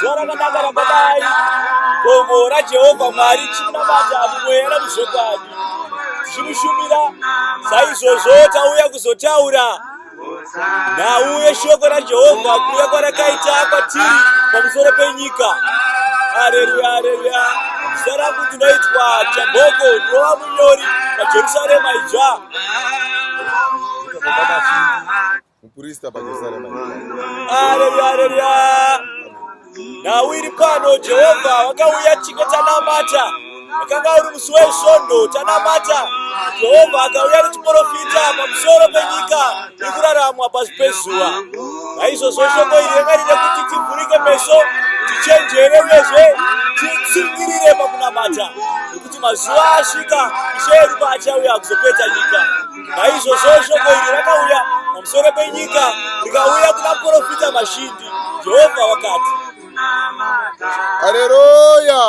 zuva rakanaka rakadai gomo rajehovha mwari chimunamata mumweya namuzvokwadi tichimushumira saizvozvo tauya kuzotaura nhau yeshoko rajehovha kuuya kwarakaita kwatiri pamusoro penyika aleluya aleluya zita rangu ndinoitwa jamboko ndinova munyori pajerusarema idzva Mupurista paJerusarema. Haleluya, haleluya. Nhau iri pano, Jehovha wakauya tiko tanamata. Wakanga uri musi wesvondo tanamata. Jehovha akauya nechiporofita pamusoro penyika iri kuraramwa pasi pezuva. Naizvozvo shoko iri ranga riri kuti tivhurike meso, tichenjere uyezve titsungirire pakunamata. mazuva asvika ishe yedu paachauya kuzopedza nyika naizvozvo shoko iri rakauya pamusoro penyika rikauya kuna profita mashindi jehovha wakati haleluya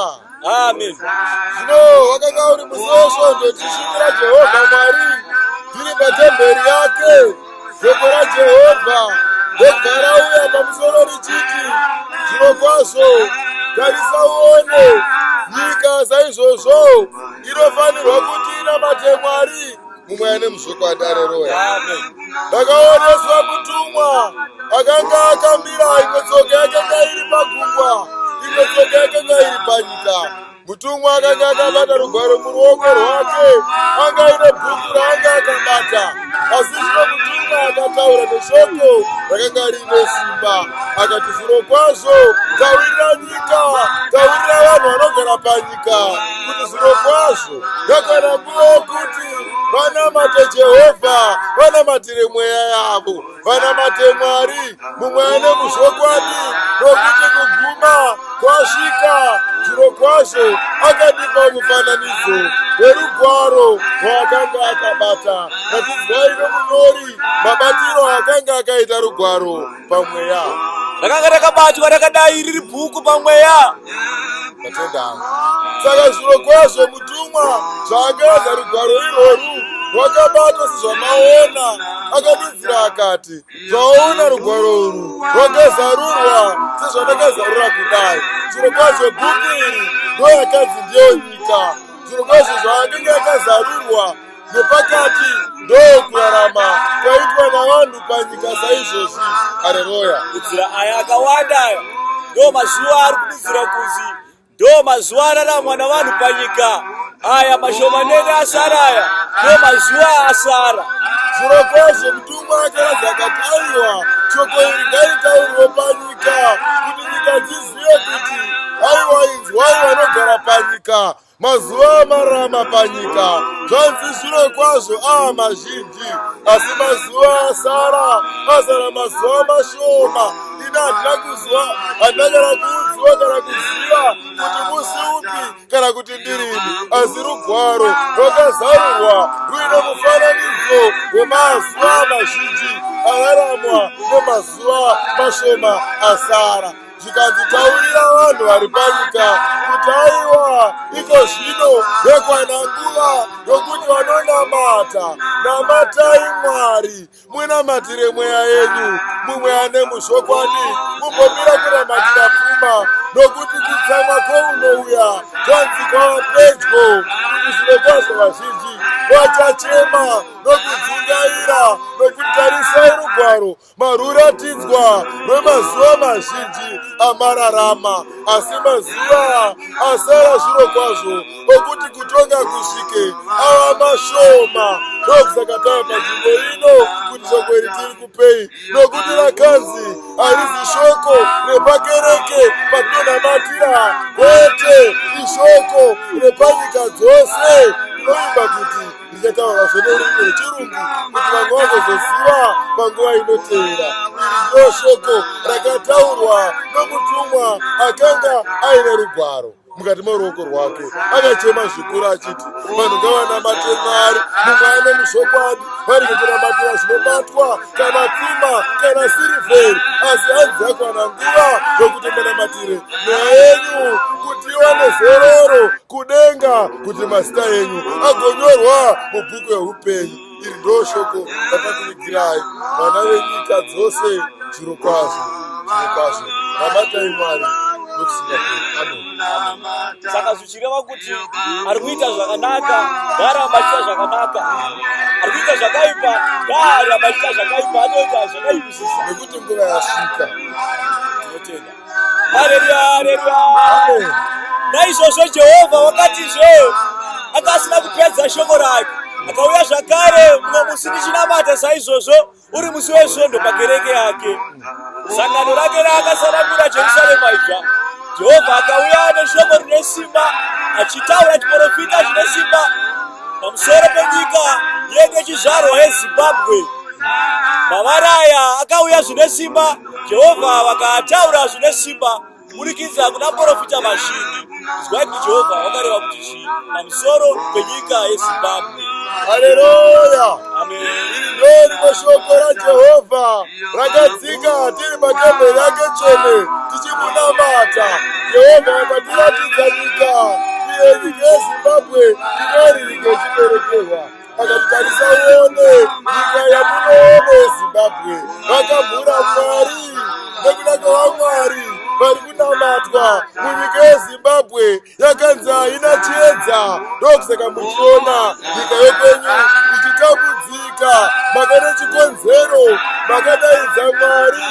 amen zvino wakanga uri musi wesvondo tichishumira jehovha mwari tiri patemberi yake shoko rajehovha ndogara uya pamusoro richiti zvirokwazvo tarisa uone nyika saizvozvo inofanirwa kuti inamate mwari mumwe ane muzvokwadi areroya ndakaoneswa kutumwa akanga akamira imwe tsoka yakanga iri pagungwa imwe tsoka yakanga iri panyika mutumwa akanga akabata rugwaro muruoko rwake anga aine bhuku raanga akabata asi zvino mutumwa akataura neshoko rakanga riine simba akati zviro kwazvo taurira nyika taurira vanhu vanogara panyika kuti zviro kwazvo yakwana nguva yokuti vanamate jehovha vanamatire mweya yavo vanamate mwari mumwe ane muzvokwadi nokuti kuguma kwasvika zviro kwazvo akandipa mufananidzo werugwaro rwaakanga akabata ratidzwai nomunyori mabatiro aakanga akaita rugwaro pamweya rakanga rakabatwa rakadai riri bhuku pamweya vatendanga saka zviro kwazvo Tumwa zvaakaedza rugwaro irworwu rwakabata sezvamaona akadudzira akati zvaona rugwaro urwu rwakazarurwa sezvandakazarura kudai zviro kwazvo bhuku iri ndoyakanzi ndiyo nyika zviro kwazvo zvaakenge akazarurwa nepakati ndokurarama kwaitwa navanhu panyika saizvozvi hareroya kudzira aya akawanda aya ndo mazuva ari kududzira kunzi Ndo mazuva araramwa navanhu panyika aya mashomanene asara aya ndo mazuva asara. Zvirokwazvo mutumwa akazi akati, Aiwa, shoko iri ngaitaurwe panyika, kuti nyika dzizive kuti, aiwa, inzwai vanogara panyika, mazuva amarama panyika, zvanzi zvirokwazvo aa mazhinji, asi mazuva asara, azara mazuva mashoma. ina handina kuzwa handina kana kuudzwa kana kuziva kuti musi upi kana kuti ndirini asi rugwaro rwakazarurwa ruine mufananidzo wemazuva mazhinji araramwa nemazuva mashoma asara zvikanzi taurira vanhu vari panyika kuti aiwa iko zvino yekwana nguva yokuti vanonamata namatai mwari munamatire mweya yenyu mumwe ane muzvokwadi mumbomira kunamatira pfuma nokuti kutsamwa kwounouya kwanzi kwava pedyo kuti zvirokwazvo vazhinji vachachema nokudzingaira nokuti tarisai rugwaro maruratidzwa rwemazuva mazhinji amararama asi mazuva asara zvirokwazvo okuti kutonga kusvike ava mashoma ndokusakatava panzvimbo ino kuti shoko iri tiri kupei nokuti rakanzi harizi shoko repakereke patinonamatira kwete ishoko repanyika dzose rinoimba kuti ndichataura zvenerurimi rwechirungu kuti vamwe vazozoziva panguva inoteera iri ndoshoko rakataurwa nomutumwa akanga aine rugwaro mukati meruoko rwake akachema zvikuru achiti vanhu ngavanamate mwari mumwe ane muzvokwadi vari kutinamatira zvinobatwa kana pfuma kana sirivheri asi hanzi yakwana nguva yokuti munamatire mweya yenyu kuti iwane zororo kudenga kuti mazita enyu agonyorwa mubhuku yeupenyu iri ndo shoko rakakuvigirai vana venyika dzose zviro kwazvo zviro kwazvo rabatai mwari saka zvichireva kuti ari kuita zvakanaka ngaaramba achiita zvakanaka ari kuita zvakaipa ngaaramba achiita zvakaipa anoita zvakaipisisa nekuti nguva yasvika tinotenda naizvozvo jehovha wakatizve anga asina kupedza shoko rake akauya zvakare mumwe musi ndichinamata saizvozvo uri musi wesvondo pakereke yake sangano rake raakasanangura jerusarema ibva jehovha akauya neshoko rine simba achitaura chiporofita chine simba pamusoro penyika yekechizvarwa yezimbabwe mavaraya akauya zvine simba Jehovha vakataura zvine simba kuburikidza kuna porofita vazhinji. Zivai kuti Jehovha vakareva kuti chii pamusoro penyika yeZimbabwe. Haleluya! Ameni. Iri ndorimwe shoko raJehovha rakadzika tiri patemberi yake tsvene tichimunamata. Jehovha vakatiratidza nyika iyo nyika yeZimbabwe inoriri ngechiberekerwa. vakatarisa uone nyika yamunoone zimbabwe vakabvura mwari nekuda kwavamwari vari kunamatwa munyika yezimbabwe yakanzi haina chiedza ndokusaka muchiona nyika yekwenyu ichitambudzika makane chikonzero makadaidza mwari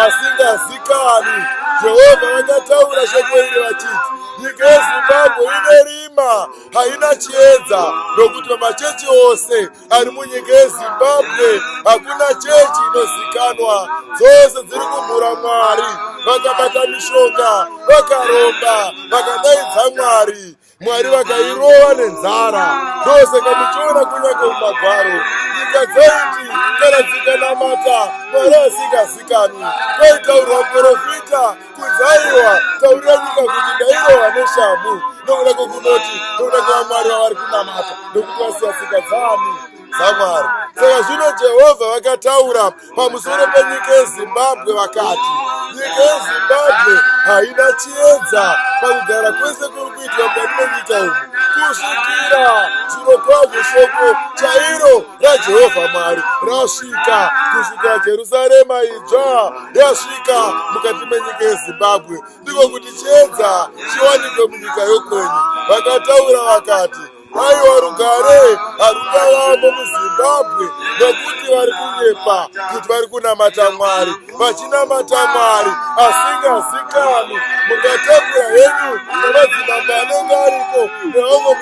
asingazikani jehovha vakataura shoko iri vachiti nyika yezimbabwe ine rima haina chiedza nokuti pamachechi ose ari munyika yezimbabwe hakuna chechi inozikanwa dzose dziri kumhura mwari vakabata mishonga vakaromba vakadaidza mwari mwari vakairova nenzara ndose kamuchiona kunyange mumagwaro nyika dzaiti kana dzikanamata mwari asikazikanwi kwaitaurwa muprofita kudzaiwa taurira nyika kuti ndairohwa neshamhu nokuda kwekunoti nokuda kwevamwari vavari kunamata nokuti vasiya tsika dzani dzamwari saka zvino jehovha vakataura pamusoro penyika yezimbabwe vakati nyika yezimbabwe haina chiedza pakugara kwese kuri kuitwa mukati menyika umu kusvikira zvirokwazvo shoko chairo raJehovha Mwari rasvika kusvika Jerusarema idzva yasvika mukati menyika yeZimbabwe, ndiko kuti chiedza chiwanikwe munyika yokwenyu. Vakataura vakati, aiwa rugare harungavamo muzimbabwe nokuti vari kunyepa kuti vari kunamata mwari vachinamata mwari asingazikanwi mungatambura henyu nemadzimambo anenge aripo neamwe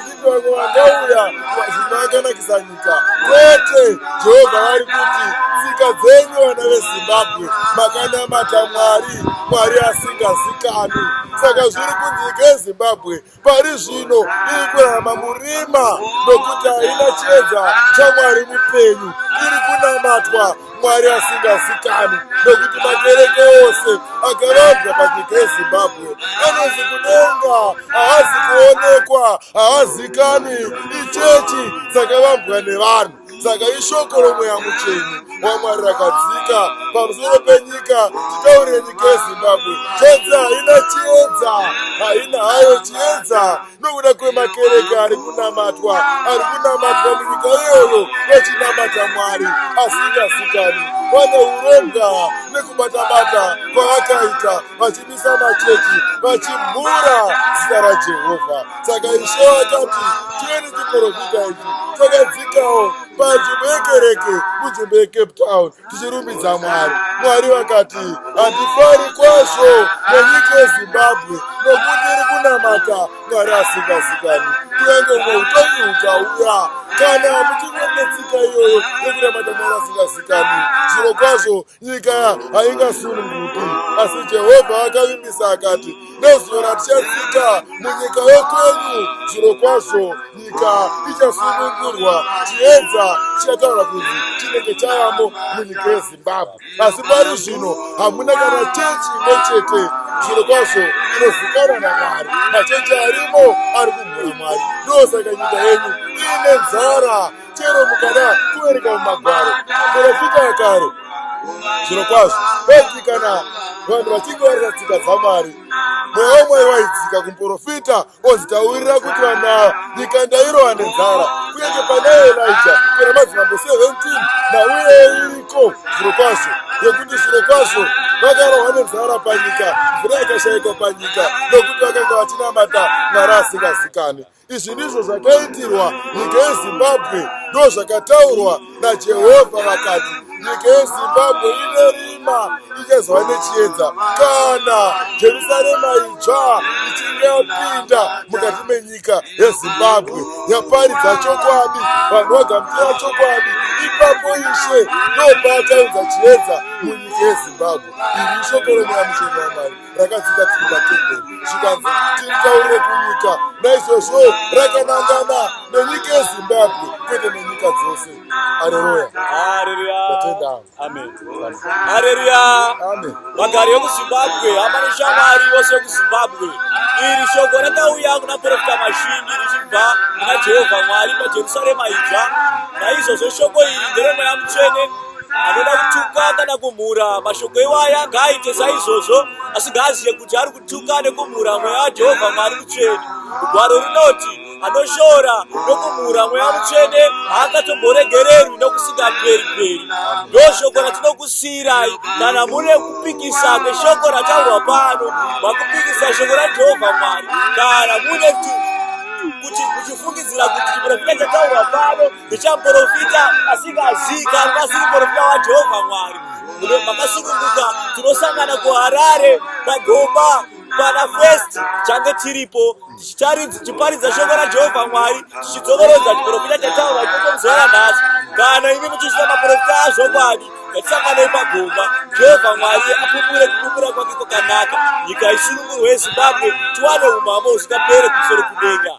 vakauya zvinhu akanakisa nyika kwete jehovha vari kuti tsika dzenyu vana vezimbabwe makanamata mwari mwari asingazikani saka zviri kunzi nyika yezimbabwe pari zvino iri kurarama murima nokuti haina chiedza chamwari mupenyu iri kunamatwa mwari asingazikanwi nokuti makereke ose akavanzwa panyika yezimbabwe anonzi kudenga haazi kuonekwa haazikanwi ichechi dzakavambwa nevanhu saka ishoko romweya mutsvene wamwari rakadzika pamusoro penyika titaure nyika yezimbabwe chedza haina chiedza haina hayo chiedza nokuda kwemakereke ari kunamatwa ari kunamatwa munyika iyoyo vachinamata mwari asingazikanwi vane uronga nekubatabata kwavakaita vachimisa machechi vachimhura zita rajehovha saka ishe vakati tiweni chiporofita ichi chakadzikawo panzvimbo yekereke munzvimbo yecape town tichirumbidza mwari mwari vakati handifari kwazvo nenyika yezimbabwe nokuti iri kunamata mwari asingazikani kunyange umwe utongi hukauya kana muchiri netsika iyoyo yekunamata mwari asingazikani zviro kwazvo nyika haingasununguki asi jehovha akavimbisa akati nezuva ratichasvika munyika yekwenyu zviro kwazvo nyika ichasunungurwa chiedza chichataura kuti chinenge chayamo munyika yezimbabwe asi pari zvino hamuna kana chechi imwe chete zviro kwazvo inozikana namwari machechi arimo ari kumhura mwari ndosaka nyika yenyu iine nzara chero mukada kuverenga mumagwaro porofita yekare zviro kwazvo peti kana vanhu vachinge varisa tsika dzamwari mweya wemwari waidzika kumuporofita ozitaurira kuti vana nyika ndairova nenzara kunyange pane elija kana madzimambo 17 nauye iriko zviro kwazvo yekuti zviro kwazvo vakarohwa nenzara panyika mvura yakashaikwa panyika nokuti vakanga vachinamata mwari asingazikani Izvi ndizvo zvakaitirwa nyika yeZimbabwe, ndozvakataurwa naJehovha vakati, nyika yeZimbabwe ine rima ichazova nechiedza kana Jerusarema itsva ichinge yapinda mukati menyika yeZimbabwe yaparidza chokwadi, vanhu vagamuchira chokwadi, ipapo Ishe ndopaachaunza chiedza munyika yeZimbabwe. Iri ishoko reMweya Mutsvene waMwari. rakadzika tiri patemberi zvikanzi tiritaurire kunyika naizvozvo rakanangana nenyika yezimbabwe kwete nenyika dzose areruya areruya vagari vekuzimbabwe hama neshamwari vose vekuzimbabwe iri shoko rakauya kuna profita mashingi richibva kuna jehovha mwari pajerusarema idzva naizvozvo shoko iri nderemweya mutsvene anoda kutuka kana kumhura mashoko iwaya ngaaite saizvozvo asi ngaazive kuti ari kutuka nekumhura mweya wajehovha mwari mutsvene gwaro rinoti anoshora nokumhura mweya mutsvene haangatomboregererwi nokusingaperi peri ndoshoko ratinokusiyirai kana mune kupikisa neshoko rataurwa pano makupikisa shoko rajehovha mwari kana mune kuti muchifungidzira kuti chiprofita chataurwa pano ndichaprofita asingazika pasi muprofita wajehovha mwari makasununguka tinosangana kuharare pagoba pana fest change tiripo tichiparidza shoko rajehovha mwari tichidzokorodza chiprofita chataura ikoko muzuva ranhasi kana imi muchisvika maprofita azvokwadi yatisanganei pagomba jehovha mwari apupure kupupura kwake kwakanaka nyika isunungurwe yezimbabwe tiwane umambo husingapere kumusoro kudenga